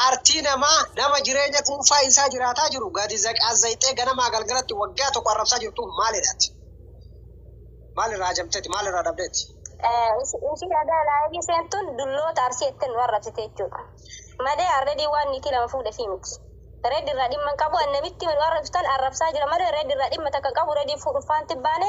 Jaartii namaa, nama jireenya dhuunfaa isaa jiraataa jiru gadi zaqaazzayxee ganamaa galgalatti waggaa tokko arrabsaa jirtuuf maal jedhaati? Maal irraa hajamteeti? Maal irraa dhabdeeti? Ishii dhagaa laayivii seentun dulloota arsii jettee nu arrabsite jechuudha. Malee already waan niitii lama fuudhe fi miti. Red irraa dhimma hin qabu an namitti hima nu arrabsitan arrabsaa jira malee red irraa dhimma takka hin qabu rediin fuudhuuf faanti hin baane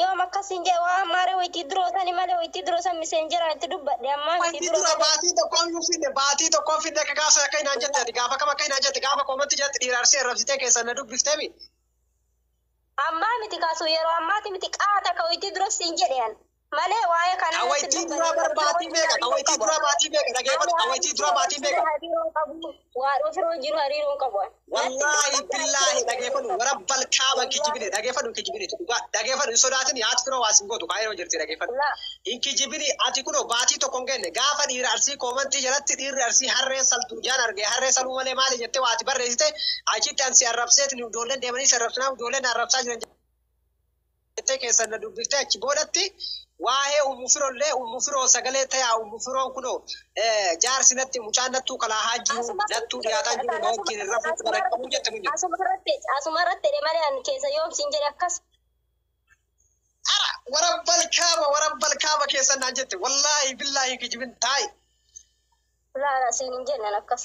Yoom akkas siin jedhe waa ammaaree waytii duroo sani malee waytii duroo san miseenjeraan itti dubbadhe ammaa miti Waytii dura malee. baatii tokkoon hin finne baatii tokkoon finne akka gaafa sana akkas naan jette ati gaafa kam akkas naan jette gaafa koomatti jalatti dhiira arsee arrabsitee keessaan na dubbiftemi. Ammaa miti kaasuu yeroo ammaati miti qaata ka waytii duras siin jedhe an malee waa'ee Ka kanaa itti waytii duraa bar baatii meeqa ka waytii duraa baatii meeqa dhageeffadhu ka waytii duraa baatii meeqa. Waadhoo firoo hin jiru hariiroo hin qabu. Wallaahi billaahi dhageeffadhu warabbal kaaba hin kijibine dhageeffadhu hin kijibine dhugaa dhageeffadhu hin sodaatin haati firoo waa sin gootu kaayiroo jirti dhageeffadhu La hin kijibini ati kunoo baatii tokko hin genne gaafa dhiira arsii koomantii jalatti dhiirri arsii harree saltu ijaan arge harree saluu malee maali jettee waati barreessite achitti ansi arrabseetin ijoolleen deemanii si arrabsinaa ijoolleen na arrabsaa jiran jettee keessan na dubbiftee achi boodatti waa'ee ummu firollee ummu firoo sagalee tayaa ummu firoon kunoo eh, jaarsi natti mucaan nattuu kalaahaa jiru Asuma nattuu irratti dhiyaataa jiru na wajjin hin rafuu quba na qabuu jette munyoo. Asuma irratti asuma irratti jedhe malee ani keessa yoom siin jedhe akkas. Ara warabbal kaaba warabbal kaaba keessan naan jette wallaahi billaahi kijibin taa'i. Laala siin hin jenne akkas.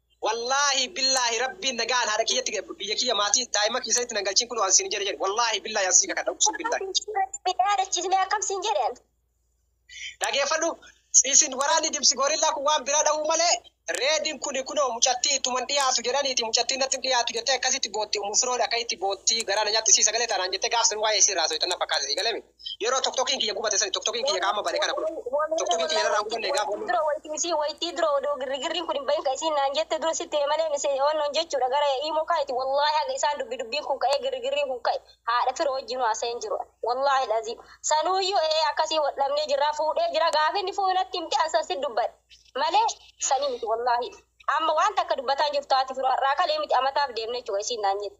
Wallaahi billaahi rabbiin nagaan haadha kiyyatti biyya kiyya maatii daa'ima keessatti nan galchiin kunoo an siin jedhe jedhe wallaahi billaahi an sii kakadha uqsum billaahi. Rabbi dhaadachisnee akkam siin jedhe an. Dhageeffadhu isin waraanni dimsi goorillaa kun waan biraa dhahuu malee reedin kuni kunoo mucattii ittuman dhiyaatu jedhaniiti mucattiin natti hin dhiyaatu jettee akkasitti bootti umu firoon akkasitti bootti garaa na nyaatti sii sagalee taanaan jettee gaaf san waa'ee isii irraa haasoftan na fakkaata sii galee miti. Yeroo tokkokiin kiyya gubate sani tokkokiin kiyya qaama bade kana kun tokkokiin kiyya narraa gubanne gaafa wanni dura wayitii misii wayitii dura odoo girrigirriin kun hin bahin ka isiin naan jette dura sitti malee misee wannoon jechuudha gara iimoo kaayiti wallaahi haga isaan dubbi dubbiin kun ka'ee girrigirriin kun ka'e haadha fira wajjin haasa'een jiru wallaahi laziim sanuuyyuu ee akkasii wal dhabnee jirraa fuudhee jira gaafa inni fuudhu natti himte ansan si dubbadhe malee sanii miti wallaahi amma waan takka dubbataan jirtu haati firoo har'aa kalee miti amataaf deemne jechuudha isiin naan jette.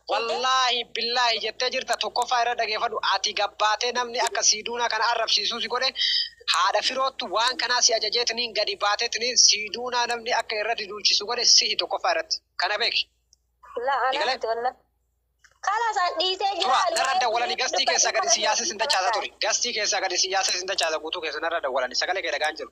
Wallaahi billaahi jettee jirta tokkoffaa irra dhageefadhu ati gabbaatee namni akka siiduunaa kana arrabsiisuu si godhe haadha firoottu waan kanaa si ajajeetiniin gadi baateetiniin siiduunaa namni akka irrati duulchisu godhe si'i tokkoffaa irratti kana beeki Laa anaa Egalee? miti wallaa. Kalas an dhiisee jira. tura ani narra waa'ee dawwalani biyya gastii keessaa gadi si dubbachuu yaasee sin kana dachaasa ta'a. turi gastii keessaa gadi si yaasee sin dachaasa guutuu keessa narra dawwalani sagalee kee dhagaan jiru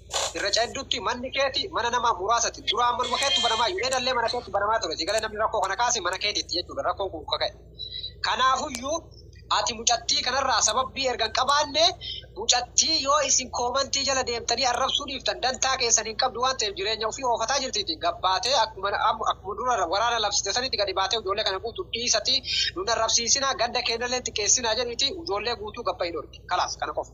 Irra ceddutti manni keeti mana nama muraasati. Duraan manuma keettu banamaa Yuneedallee mana keettu banamaa ture. Sigalee namni rakkoo kana kaase mana keetitti jechuudha rakkoon kun ka ka'e. Kanaafuyyuu ati mucattii kanarraa sababbii erga hin qabaanne mucattii yoo isin koomantii jala deemtanii arrabsuu dhiiftan dantaa keessan hin qabdu waan ta'eef jireenya ofii oofataa jirtiiti gad baatee akkuma akkuma dura waraana labsite sanitti gadi baatee ujoollee kana guutu dhiisati nun arrabsiisinaa ganda keennallee hin xiqqeessinaa jedhiiti ujoollee guutuu gad bahi dhorki. Kalaas kana qofa.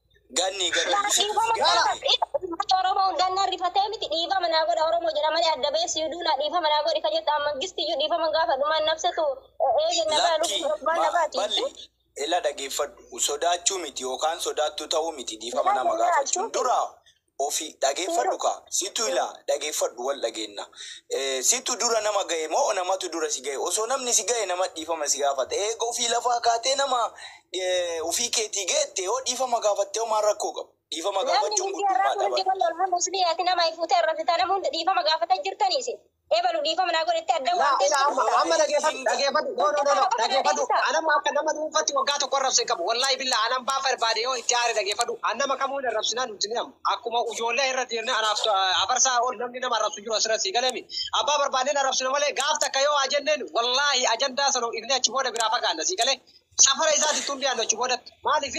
Ganni gada Kana ishee dhiifama godha gaala. irratti uummata Oromoo hundaan na rifatee miti dhiifama naa godha Oromoo jedha malee adda ba'ee si huduu naa dhiifama naa godhi ka jettu amma gisti iyyuu dhiifama hin gaafadhu maan nabsatu eege na baa Lakki lubbuu maan na ma baati balli ila dhageeffadhu sodaachuu miti yookaan sodaattuu ta'uu miti dhiifama nama Ilaali ilaalchu gaafachuun dura ofi dhageeffadhu kaa situ ilaa dhageeffadhu wal dhageenna Eh, situ dura nama gahe moo namatu dura si gahe osoo namni si gahe nama dhiifama si gaafata eega ofii lafaa kaatee nama eh, ofii keetii geette yoo dhiifama gaafatte homaa rakkoo qabu dhiifama Namni gaafachuun miidiyaa irraa guddummaa fuudhee dhaba jiru lolhan musliyaati nama ifuutee irra fita nama hunda dhiifama gaafata jirtanii isin. Ebalu dhiifama naa godhetti adda waan Laa ilaa amma amma dhageefadhu dhageefadhu no no no no dhageefadhu anamma akka nama dhuunfatti waggaa tokko arrabse hin qabu wallahi billah an ambaa barbaade yoo itti aare dhageefadhu an nama kamuu hin arrabsinaa nun jini amma akkuma ujoollee irra deemne anaaf afarsaa ol namni nama arrabsu hin jiru asirra sii galemi abbaa barbaanneen arrabsina malee gaaf takka yoo haa jenneen wallahi ajandaa sana dhiifne achi booda biraa fagaanna sii galee safara isaati tun dhiyaannu achi boodatti maaliif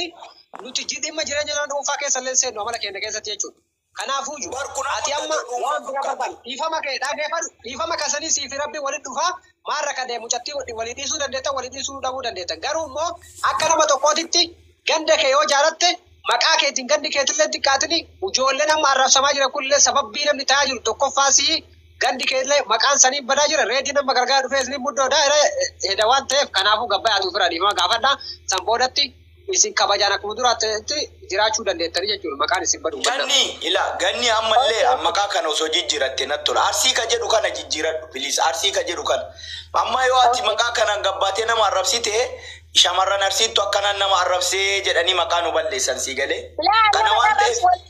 nuti ji- dhimma jireenya nama dhuunfaa keessa illee seennu amala keenya keessatti jechuudha. Kanaafu ju, ati amma waan bira barbadhu. Dhiifama kee dhaagefadhu. Dhiifama kesani sii fi Rabbi wali dhufaa. Maal rakade mucati wajjin wali dhiisuu dandeettan wali dhiisuu dhabuu dandeettan. Garuu immo akka nama tokkootitti ganda kee yoo jaalatte maqaa keetin gandi keetille hin xiqqaatini. Ujoollen amma arrabsamaa jiran kunille sababbii namni ta'aa jiru tokkoffaa sii gandi keelle maqaan sanii badaa jira. Reedin amma gargara dhufee isni muddo da, ira heda waan ta'eef kanaafu gabbayaati ufira dhiifama gaafadha. San boodatti Isin kabajaan akkuma duraatti jiraachuu dandeettanii jechuudha maqaan isin badu mannaa. Ganni ila ganni ammallee Okay. maqaa kana osoo jijjiiratte natti tola. Arsii ka jedhu kana jijjiiradhu please. Arsii ka jedhu kana. Amma yoo ati Okay. maqaa kanaan gabbaatee nama arrabsite shamarran arsiittu akkanaan nama arrabsee jedhanii maqaa nu balleessan sii galee. Laa Kana nama waan ta'eef arrabsu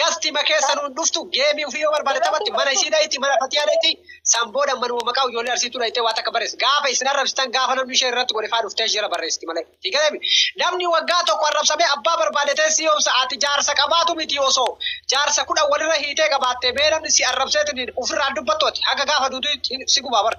Gastima keessa nuun dhuftu geemii ofii yoo barbaade taphatti mana isii dhayti mana fatiyaa dhayti san booda manuma maqaa ijoollee arsiitu dhaytee waa takka barreessi. Gaafa isin arrabsitan gaafa namni ishee irratti godhe faa dhuftee jala barreessiti malee. Hiikalemi namni waggaa tokko arrabsamee abbaa barbaade ta'e si yoomsa ati jaarsa qabaatu miti osoo jaarsa kudhan walirra hiitee qabaatte mee namni si arrabseetiin ofirraa dubbattu ati haga gaafa duutu si gubaa bara.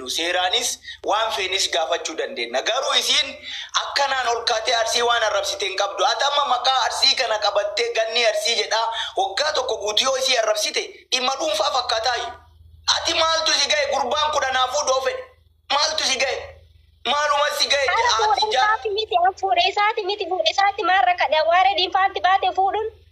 nu seeraanis waan feenes gaafachuu dandeenna garuu isiin akkanaan ol kaatee arsii waan arrabsite hin qabdu ati amma maqaa arsii kana qabattee gannii arsii jedhaa waggaa tokko guutu yoo isii arrabsite dhimma dhuunfaa fakkaataayyu ati maaltu si gahe gurbaan kun anaa fuudhoo fedhe maaltu si gahe maaluma si gahe Haala jedha ati fuudhee jaa isaati miti fuudhee isaati miti fuudhee isaati maarra kadha waare diinfaatti baate fuudhuun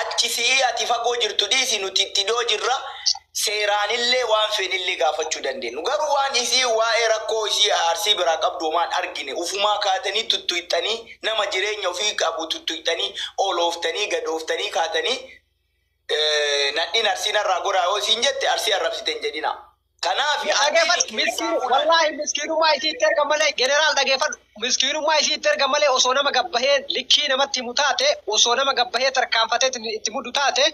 Achi si'ii ati fagoo jirtu dhiisi nuti itti dhiyoo jirra seeraanillee waan feenellee gaafachuu dandeennu. Garuu waan isiin waa'ee rakkoo isii Arsii biraa qabdu homaa hin argine ufumaa kaatanii tuttuyxanii nama jireenya ufii qabu tuttuyxanii olooftanii gadooftanii kaatanii nadhiin Arsii narraa goraa yoo isiin jette Arsii arrabsite hin jedhinaa. Kanaaf Yaa addeen dhageeffadhu kee miskiin isaa olaadha. wallaahi miskiinummaa isii itti erga malee generaal dhageeffadhu miskiinummaa isii itti erga malee osoo nama gabbahee likkii namatti himu taate osoo nama gabbahee tarkaanfatee itti- itti muddu taate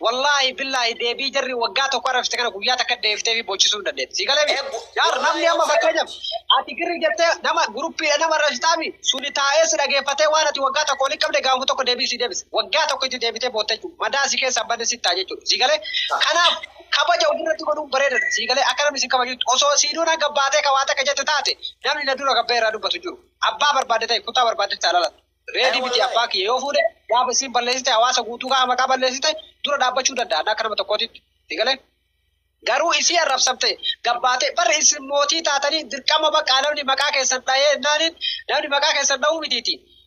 wallaahi billaahi deebii jarri waggaa tokko arrabsite kana guyyaa takka deeftee fi bochisuu hin dandeetti sii galee Eebbo, yaar wallaahi namni amma obsa fakkeenyaaf qabdi. ati girri jettee nama guruppiidha nama arrabsitaami suni taa'ee si dhageeffatee waan ati waggaa tokko waliin qabde gaanfa tokko deebii sii deebise waggaa tokko itti deebitee bootte jechuudha madaa si keessaa badde si ta'a jechuudha sii galee kanaaf Kabaja ofirratti godhuun bareedadha. Sii galee akka namni si kabajutti osoo sii duuna gad baatee ka waa takka jette taate namni na dura gad bahee irraa dubbatu hin jiru. Abbaa barbaadde ta'i kutaa barbaadde haa dhalattu. Ee Reedii miti abbaa wallaahi. kiyya yoo fuudhe gaafa isiin balleessite hawaasa guutuu gaafa maqaa balleessite dura dhaabbachuu danda'a akka nama tokkootitti. Sii galee? Garuu isii arrabsamte gad baatee barri isin mootii taatanii dirqama baqqaa namni maqaa keessan dhahee naaniin namni maqaa keessan dhahuu mitiiti.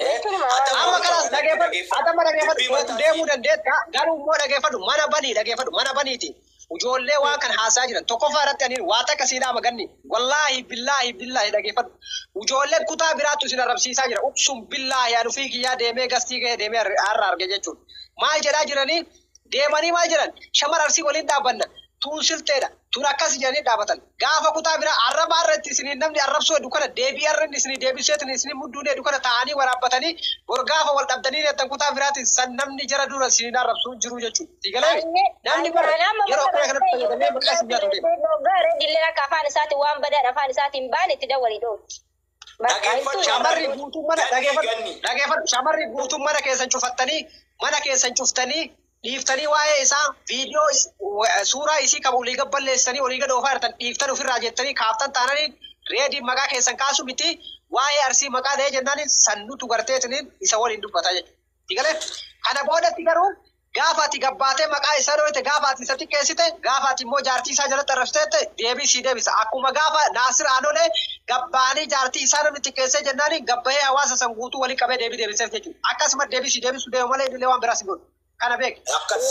Eh, Kunuma waan Adama Amma garaa kanas dhaggeeffadhu, dhaggeeffadhu. adama dhaggeeffadhu, Dubbii waliin mataa deemuu fi- dandeetta, garuu immoo dhaggeeffadhu, mana banii dhaggeeffadhu, mana baniiti. Ijoollee waan kan haasaa jiran tokkoffaa irratti ani waa takka sii dhaama ganni. Wallaahi billaahi billaahi dhaggeeffadhu. Ijoolleen kutaa biraattu isin arrabsiisaa jira. Uqsum billaahi ani ofii kiyyaa deemee gastii gahee deemee har'a arge jechuudha. Maal jedhaa jiranii? Deemanii maal jedhan? Shamara arsii waliin dhaabbanna. Tun sifxeedha. Tun akkasi jedhanii dhaabatan. Gaafa kutaa biraa arraba arra itti isiniin namni arrabsuu heddu kana deebii arra inni isinii deebisseetiin isiniin mudduun hedu kana taa'anii waraabbatanii bor gaafa wal dhabdanii deettan kutaa biraatiin san namni jara dura isiniin arrabsu hin jiruu jechuudha. Sii galee mee? Namni bar yeroo akkana kanatti fayyadamee maqaa isin nyaatu deema. Hoggaa Redilleen akka afaan isaatiin waan badaan afaan isaatiin baane itti dawwalii dhoowwi. Shamarri guutuun mana dhageeffadhu shamarri guutuun mana keessan cufattanii mana keessan cuftanii dhiiftanii waa'ee isaa viidiyoo suuraa isii kan olii gad balleessanii olii gad oofaa jirtan dhiiftan ofirraa jettanii kaaftan taananii reediin maqaa keessan kaasu miti waa'ee arsii maqaa dha'ee jennaan sannutu garteetiniin isa waliin dubbataa jechuudha. Kana boodatti garuu Gaafa ati gad baatee maqaa isaa dhooyte, gaafa ati isa xiqqeessite, gaafa ati immoo jaartii isaa jalatti arrabsite jette, deebii sii deebisa. Akkuma gaafa Naasir Aanolee gad ba'anii jaartii isaa namni xiqqeessee jennaaniin gad ba'ee hawaasa san guutuu wali qabee deebii deebiseef jechuudha. Akkasumatti deebii sii deebisuu deema malee innillee waan biraa si godhu. Kana beeki. Akkami?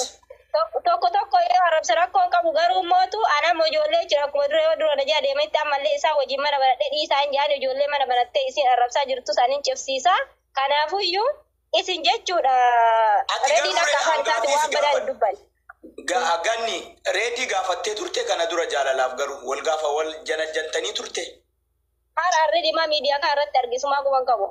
Tokko tokko yoo arrabse rakkoo hin qabu, garuu immootu ani amma ijoollee jechuun akkuma dura yoo dura na jala deemanitti ammallee isaan wajjin mana banadhee dhiisaa hin jedhani, ijoollee mana banattee isiin arrabsaa jirtus ani hin cibsiisa. Kanaafuyyuu Isin jechuudha Ati rediin garuu akka Reda afaan isaati gaafii waan si badaa hin gaafadhu. dubbanne. Ga- Ganni reedii gaafattee turte kana dura jaalalaaf garuu wal gaafa wal janajjantanii turte Hara redi maa miidiyaa kaa irratti argisumaa guban qabu.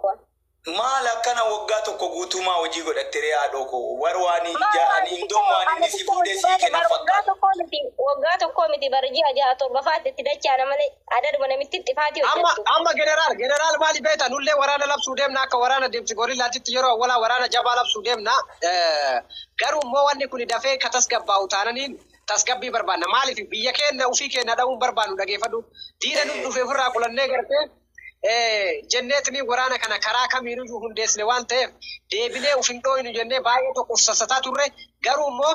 maal akkana waggaa tokko guutuumaa hojii godhatte ree haadhoo koo war waan Maa ija waan ani hin tokko domu waan ani inni si tokko fuudhee hojii sii baate kenna bar waggaa fakkaata. tokkoo miti waggaa tokkoo miti bar ji'a jaha torba faatti itti dachaana malee. Aadaadhuma namittiin xifaatii Amma hojjettu. amma generaal generaal maali beekta nullee waraana labsuu deemna akka waraana deemsi gorillaatitti yeroo awwalaa waraana jabaa labsuu deemna Eh, garuu immoo wanni kun dafee ka tasgabbaa'u taananiin tasgabbii barbaanna maaliif biyya keenya ofii keenya dha'uun barbaannu dhageeffadhu diina nuuf dhufe ofirraa qulannee gartee eh, jenneetni waraana kana karaa kamiinuu hundeessine waan ta'eef deebinee of hin dhooynu jennee baay'ee tokkoof sassataa turre garuu immoo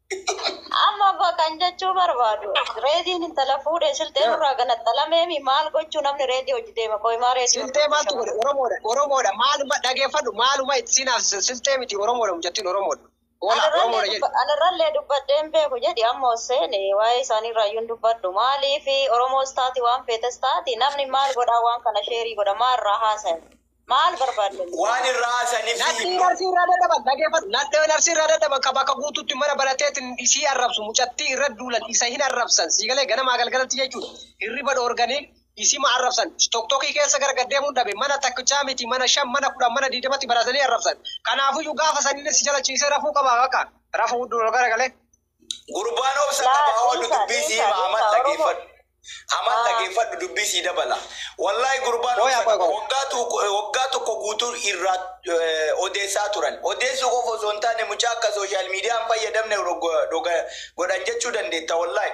Amma abbaa kan jechuu barbaadu reediin intala fuudhe silxee nurraa ganaxalameemi maal gochuu namni reedii hojii deema qoymaa reedii Silxee maaltu godhe Oromoodha Oromoodha maaluma dhageeffadhu maaluma itti siin haasise silxee miti Oromoodha mucattiin Oromoodha Hoolaa Oromoodha jedhi Anarrallee dubbadheen beeku jedhi amma Hosseen waa'ee isaanii irraayyuun dubbadhu maaliif Oromoos taati waan feetes taati namni maal godhaa waan kana sheerii godha maa irraa haasaya Maal barbaaddan? Waan irra haasanif Nadhii himma. narsii irraa dadhaban dhageeffadhu nadhee narsii irraa dadhaban ka bakka guututti mana banateetin isii arrabsu mucattii irra duulan isa hin arrabsan sii galee ganamaa galgalatti jechuudha hirriba dhoorganii isima arrabsan toktokii keessa gara gaddeemuun dhabe mana takkichaa miti mana shan mana kudhan mana diidamatti baratanii arrabsan kanaafuyyu gaafa sanillee si jalachiisee rafuu qaba bakka rafuu gara galee Gurbaan obsa Laa, qaba oolu dhiisaa, dubbii sii dhiisaa, hima amal dhiisaa, Oromoo. dhageeffadhu. Amal Haa. dhageeffadhu dubbii sii dabala. Wallaahi gurbaan Qoya, obsa qoya, qaba. qoya. Waggaa tokko waggaa tokko guutuu irraa eh, odeessaa turan. Odeessuu qofa osoo hin taane mucaa akka sooshaal miidiyaa hin fayyadamne rogo- doga- godhan jechuu dandeetta wallaahi.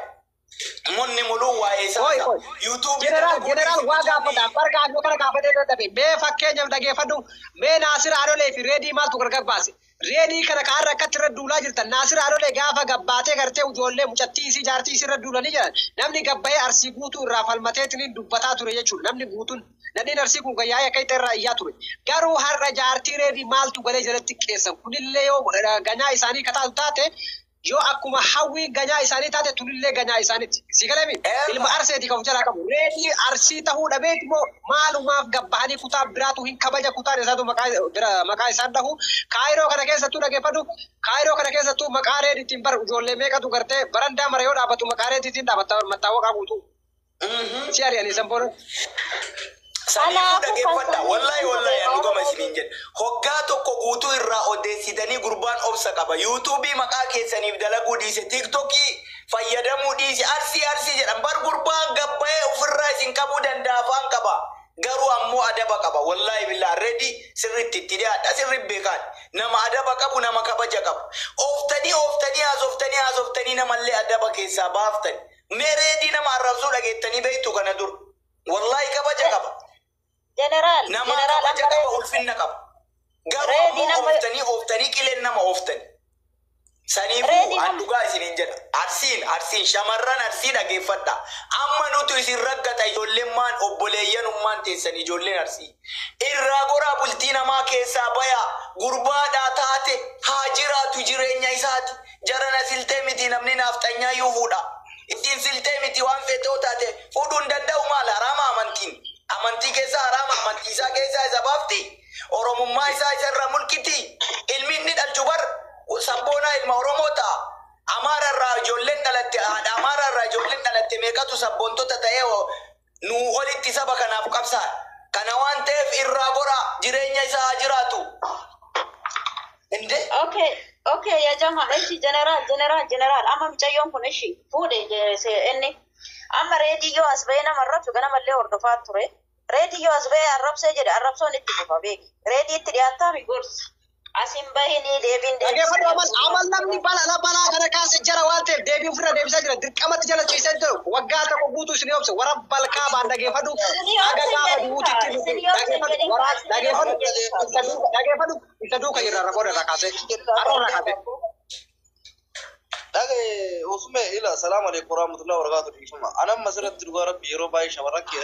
Munni muluu waa'ee isaa Qoy qoy. ta'a. YouTube Jeneraal jeneraal waa gaafata. Bara gaafii bara gaafatee bira dabe. Mee fakkeenyaaf dhageeffadhu. Mee Naasir Adolee fi Reedii maaltu gargar baase? Reedii kana ka har'a akkatti irra duulaa jirtan Naasir Adolee gaafa gabbaatee gartee ijoollee mucattii isii jaartii isii irra duulanii jedhan namni gabbayee arsii guutuu irraa falmateetiniin dubbataa ture jechuudha. Namni guutuun nadhiin arsii kun kan yaa'ee akka itti irraa iyyaa ture. Garuu har'a jaartii reedii maaltu galee jalatti xiqqeessan kunillee yoo eh, ganaa isaanii ka taatu taate Yoo akkuma Hawwii ganyaa isaanii taate Tulillee ganyaa isaaniti. Sii galemi? Ilma Arseeti ka of jalaa qabu. Reedii Arsii tahuu dhabeeti moo maalumaaf gad bahanii kutaa biraatu hin kabaja kutaan isaatu maqaa bira maqaa isaan dhahu. Kaayiroo kana keessattuu dhageeffadhu Kaayiroo kana keessattuu maqaa Reeditiin bar ijoollee meeqatu gartee barandaa mara yoo dhaabatu maqaa Reeditiin dhaabatta bar mattaawaqaa guutuu. Mhm. Si ari'anii san booda Saniifuu dhageeffadha. Wallahi wallahi an dhugama isiniin jedha. Hoggaa tokko guutuu irraa odeessitanii gurbaan obsa qaba. Yuutuubii maqaa keessaniif dalaguu dhiise tiiktokii fayyadamuu dhiise arsii arsii jedhan. Bar gurbaan gabbayee ofirraa isin qabuu danda'a afaan qaba. Garuu ammoo adaba qaba. Wallahi billaa redi sirriitti itti dhiyaadha sirri beekaan. Nama adaba qabu nama kabaja qabu. Ooftanii ooftanii haasoftanii haasoftanii namallee adaba keessaa baaftani. Mee reedii nama arrabsuu dhageettanii beektu kana dur. Wallaahi kabaja Je- qaba. Jeneraal, Namaa jeneraal kabaja amma qaba, reedii. ulfinna qaba. Garuu Reedii ammoo nama- ooftanii ooftanii qileen nama ooftani. Saniifuu Reedii an nama- dhugaa isiniin jedha. Arsiin, arsiin, shamarran arsii dhageeffadha. Amma nutu isin raggata ijoollemmaan obboleeyyanummaan teessan ijoolleen arsii. Irraa goraa bultii namaa keessaa bayaa. Gurbaadhaa taate haa jiraatu jireenya isaati. Jarana siltee mitii namni naafxanyaa yuu fuudha isiin siltee mitii waan feete yoo taate fuudhuu hin danda'u maal haraama amantiin amantii keessaa haraama amantii isaa keessaa isa baafti oromummaa isaa isa irraa mulqitii ilmi inni dhalchu bar sabboonaa ilma oromoo ta'a amaara irraa ijoolleen dhalatte haadha amaara irraa ijoolleen dhalatte meeqatu sabboontota ta'ee Nuu olitti saba kanaaf qabsaa'e. Kana waan ta'eef irraa goraa jireenya isaa haa jiraatu. Inde. Okay, okay, ya jama, eshi general, general, general, amma micayyoon kun eshi fuudhe je- se- inni amma reediyyoo as ba'ee nama arrabsu ganamallee hordofaa ture. Reediyyoo as ba'ee arrabsee jedhe arrabsoon itti fufa beeki. Reedii itti dhiyaattaa mi gorsi. Asin bahinii deebiin deebisee Dhageeffadhu amal abboomaa amal namni seeraa. balala balaa kana kaase jara waan ta'eef deebii ofirra deebisaa jira dirqamatti jala ciisee jiru waggaa tokko guutuu isin obse warra balkaa baan dhageeffadhu Isinii haga obsin gaafa jedhin du'uutti kaa. itti dhufu Isinii obsin dhageeffadhu jedhin waraa kaa. Isinii dhageeffadhu obsin jedhin kaa. isa duuka dhageeffadhu isa duuka jirra irra booda irra kaasee har'a irra kaasee Dhage usume ila salaam alaikum warahmatullahi wabarakatuh dhiifama. Anam masirratti dhugaa rabbi yeroo baay'ee shamarran kee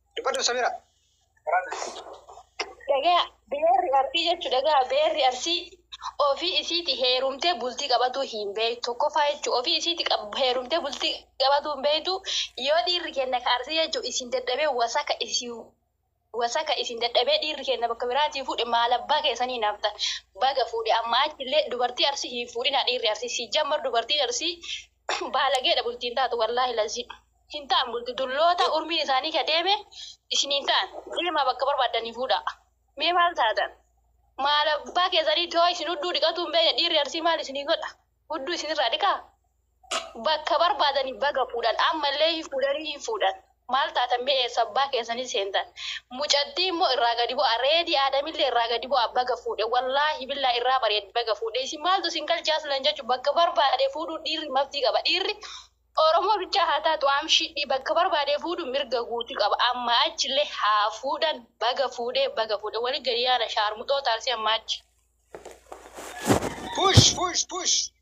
Dubbadhu Samira. Dhagaa beerri arsii jechuun dhagaa beerri arsii ofii isiiti heerumtee bultii qabatuu hin beektu. Tokkoffaa jechuun ofii isiiti qab- heerumtee bultii qabatuu hin beektu. Yoo dhiirri kenna ka arsii jechuun isin dadhabee wasaka isin wasaka isin dadhabee dhiirri kenna bakka biraatii fuudhe maal abbaa keessanii naafta baga fuudhe amma achillee dubartii arsii hin fuudhinaa dhiirri arsii si jammar dubartiin arsii Baalageedha bultiin taatu wallaahi laziim. Hin ta'an bulti dulloota urmiin isaanii ka deeme isin hin ta'an. Deemaa bakka barbaaddanii fuudhaa. Mee maal taatan? Maal abbaa keessanii too isin hudduu dhiqatuu hin beekne dhiirri arsii maal isinii godha? Hudduu isinirraa dhiqaa? Bakka barbaadanii baga fuudhan ammallee hin fuudhanii hin fuudhan. Maal taatan mee eessa abbaa keessanii seentan mucattii immoo irraa gadi bu'aa reedii aadamillee irraa gadi bu'aa baga fuudhe wallaahi billaahi irraa bareeddi baga fuudhe isin maaltu isin galche aslan jechuun bakka barbaade fuudhuu dhiirri maftii qaba dhiirri Oromoo bichaa haa taatu amshidhii bakka barbaade fuudhu mirga guuti qaba amma achillee haa fuudhan baga fuudhe baga fuudhe wali gadi yaana shaarmuxoo taaksii amma achi. Push push push.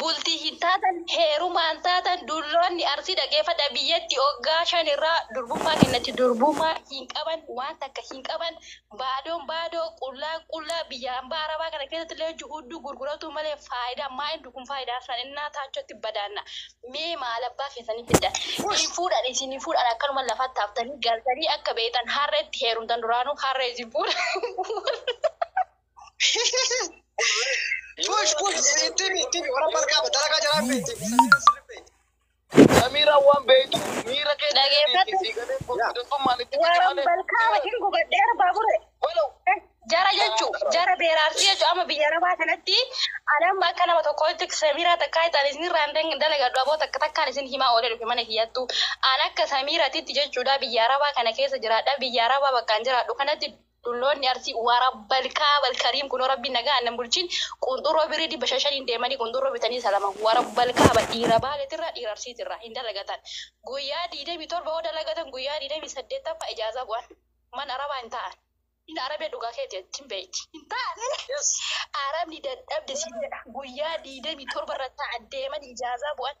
Bultii hin taatan, heerumaa hin taatan, dulloonni Arsii dhageeffadhaa biyyatti oggaa shan irraa durbummaa kennati durbummaa hin qaban, waan takka hin qaban, baadoon baadoo, qullaan qullaa, biyya ambaa arabaa kana keessatti illee hojji hudduu gurguratuu malee faayidaa maa indu kun faayidaa isaan innaa taachotti badaanna mee maal abbaa keessanii fiddan hin fuudhan isin hin fuudhan akkanuma lafatti haftanii galtanii akka beeytan harreetti heerumtan duraanuu harree isin fuudha. Push push ittimi ittimi warra margaa dalagaa jalaa beekti. Samiira waan beektu miira kee Dhageeffadhu. sii galee gurguddattummaan itti fide Waan malee. balkaama hin gubadheera baabure. Walau Jara jechu jara beeraarsi jechu amma biyya arabaa kanatti anam akka nama tokkootti samiiraa takkaa itaan isin irraan dalagadhu aboo takka takkaan isin himaa oolee dhufe mana kiyyattu an akka samiiratitti jechuudha biyya arabaa kana keessa jiraadha biyya arabaa bakkaan jiraadhu kanatti Dhulloonni Arsii warabbal kaabal kariim kunoo rabbiin nagaan nan bulchin qunxurroo birrii dhibba shan shaniin deemanii qunxurroo bitanii salaman warabbal kaabal dhiira baaletirraa dhiira arsiitirraa hin dalagatan guyyaa digdamii torba yoo dalagatan guyyaa digdamii saddeettaffaa ijaazaa bu'an man arabaa hin ta'an hin arabee dhugaa keeti atti hin beeyti hin ta'an arabni dadhabde siin jedha guyyaa digdamii torba irra ta'an deeman ijaazaa bu'an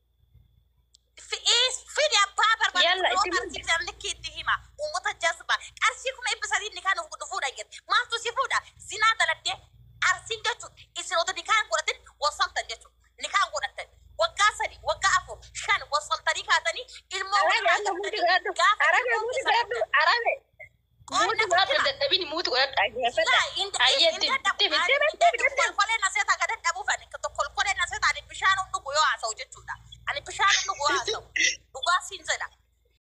Fidi abbaa barbaadu Yalla, yoo itti qarshii fidan likki itti hima. Uummata jazba. Qarshii kuma dhibba sadii nikaa nuuf godhu fuudha jirti. Maaltu si fuudha? Zinaa dalagdee arsiin jechuun isin otoo nikaa hin godhatin wal saltan jechuudha. Nikaa hin godhattan. Waggaa sadi, waggaa afur, shan wal saltanii kaatanii ilmoo Arabe, walirraa arga hundi gaaffatanii gaadhu. gaafa Arabe, ilmoon hundi keessan gaadhu. Arabe. Muuti waan hin dadhabini muuti godhadha dhaggeeffadha. Ayyee dim dim dim dim dim dim. kolkoleen asee taa gadan dhabuuf ani kolkoleen asee taa ani bishaan hin dhugu yoo haasa'u jechuudha ani bishaan hin dhugu yoo haasa'u dhugaa siin jedha.